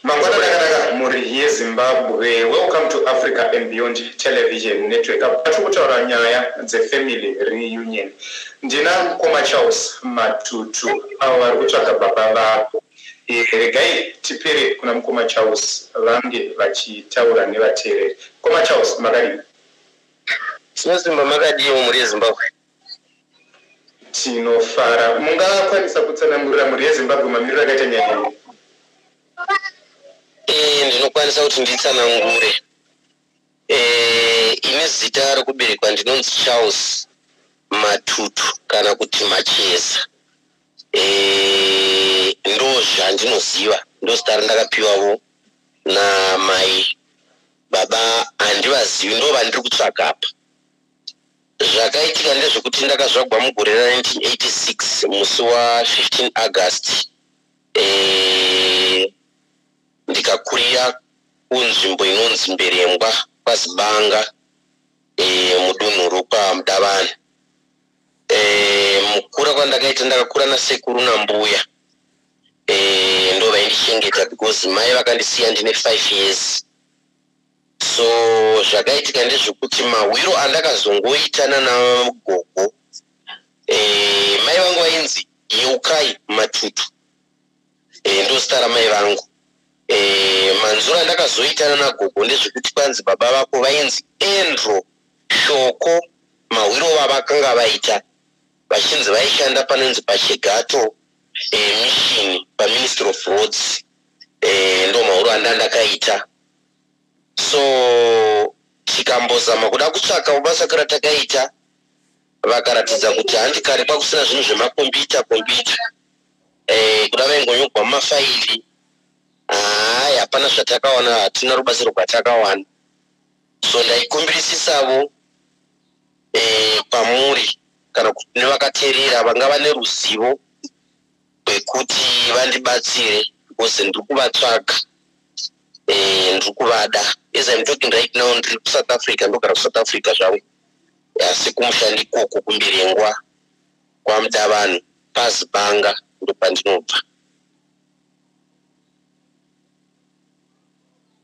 Mangwanani akanaka mhuri yeZimbabwe. Welcome to Africa and Beyond Television Network. Apa tiri kutaura nyaya dzefamily reunion. Ndina mkoma Charles Matutu avo vari kutsvaga baba vavo. E, regai tipere kuna mkoma Charles vange vachitaura nevateereri. Mkoma Charles, makadii? Sinosimba makadii mhuri yeZimbabwe? Tinofara. Mungakwanisa kutsanangurira mhuri yeZimbabwe mamiriro akaita nyaya iyi? Ee, ndinokwanisa kuti nditsanangure. Ee, ini zita rokuberekwa ndinonzi Charles Matutu kana kuti Macheza. Ee, ndozvandinoziva, ndozita randakapiwavo namai. Baba handivazivi, ndovandiri kutsvaga apa. Zvakaitika ndezvekuti ndakazvagwa mugore ra 1986 musi wa 15 August eh, ndikakurira kunzvimbo inonzi Mberembwa kwaZibanga eh, mudunhu rokwa Mudavana. Eh, mukura kwandakaita ndakakura nasekuru nambuya eh, ndo vaindichengeta because mai vakandisiya ndine 5 years. so zvakaitika ndezvekuti mahwiro andakazongoita nanagogo e, mai vangu vainzi yeukai matutu e, ndozita ramai vangu e, manzura andakazoita nanagogo ndezvekuti kwanzi baba vako vainzi andrew shoko mahwiro vavakanga vaita vachinzi vaishanda panonzi pachigato e, mishini paministry of roads e, ndo mahwiro andandakaita so tikambozama kuda kutsvaka basa kara takaita vakaratidza kuti handi kare kwakusina zvinhu zvemakombiyuta kombiyuta eh, kuda vaingonyogwa mumafaili hai hapana zvatakawana hatina rubatsiro rwatakawana so ndaikumbirisisavo eh, kwamuri kana kuti nevakateerera vangava neruzivo kwekuti vandibatsire because ndiri kuvatsvaga eh, ndiri kuvada as im talking right now ndiri kusouth africa ndogara kusouth africa zvangu asi kumushandi ikoko kumbirengwa kwamuda vanhu pazibanga ndopandinobva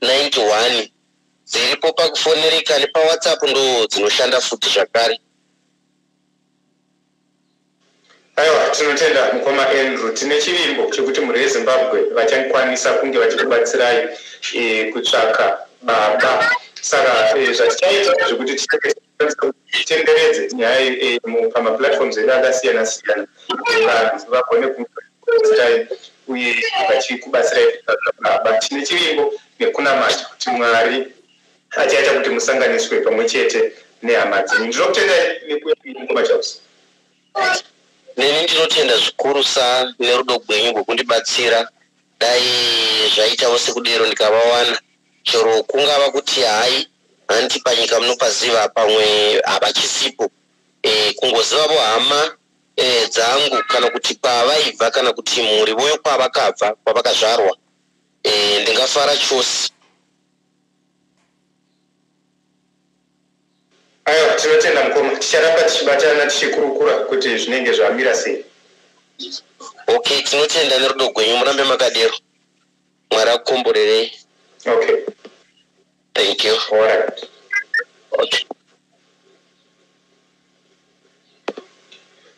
91 dziripo pakufonereka nepawhatsapp ndo dzinoshanda futi zvakare aiwa tinotenda mukoma andrew tine chivimbo chekuti mhuri yezimbabwe vachakwanisa kunge vachikubatsirai e, kutsvaka baba saka e, zvatichaita zvekuti itenderedze nyaya iyi eh, pamaplatforms edu akasiyana siyana vanhu vagone kuai uye vachikubatsirai baba tine chivimbo nekunamata kuti mwari achaita kuti musanganiswe pamwe chete nehama dzenyu ndinokutendai nekuyaikoma chausi neni ndinotenda zvikurusa nerudo gwenyu gwekundibatsira dai zvaitawo sekudero ndikavawana chero kungava kuti hai hanti panyika munopaziva pamwe havachisipo e, kungozivavo hama e, dzangu kana kuti kwavaibva kana kuti mhuri voyo kwavakabva kwavakazvarwa e, ndingafara chose aiwa tinotenda mukoma ticharamba tichibatana tichikurukura kuti zvinenge zvamira sei okay tinotenda nerudo gwenyu murambe makadero mwari akukomborerei okay thank you all right okay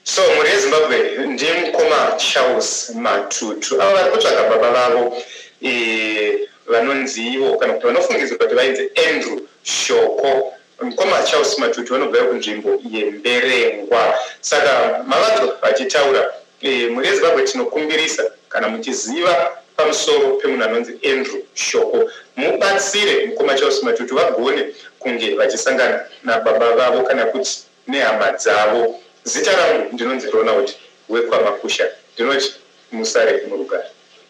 so mhuri yezimbabwe ndiye mukoma charles matutu avo vari kutsvaga baba vavo e, vanonzi ivo kana kuti vanofungidzwa kuti vainzi andrew shoko Mkoma Charles Matutu vanobva kunzvimbo yeMberengwa. Saka mavanzwa vachitaura eh, mhuri yeZimbabwe tinokumbirisa kana muchiziva pamusoro pemunhu anonzi Andrew Shoko mubatsire mkoma Charles Matutu vagone kunge vachisangana nababa vavo kana kuti nehama dzavo. Zita rangu ndinonzi Ronald wekwaMakusha ndinoti musare murugare.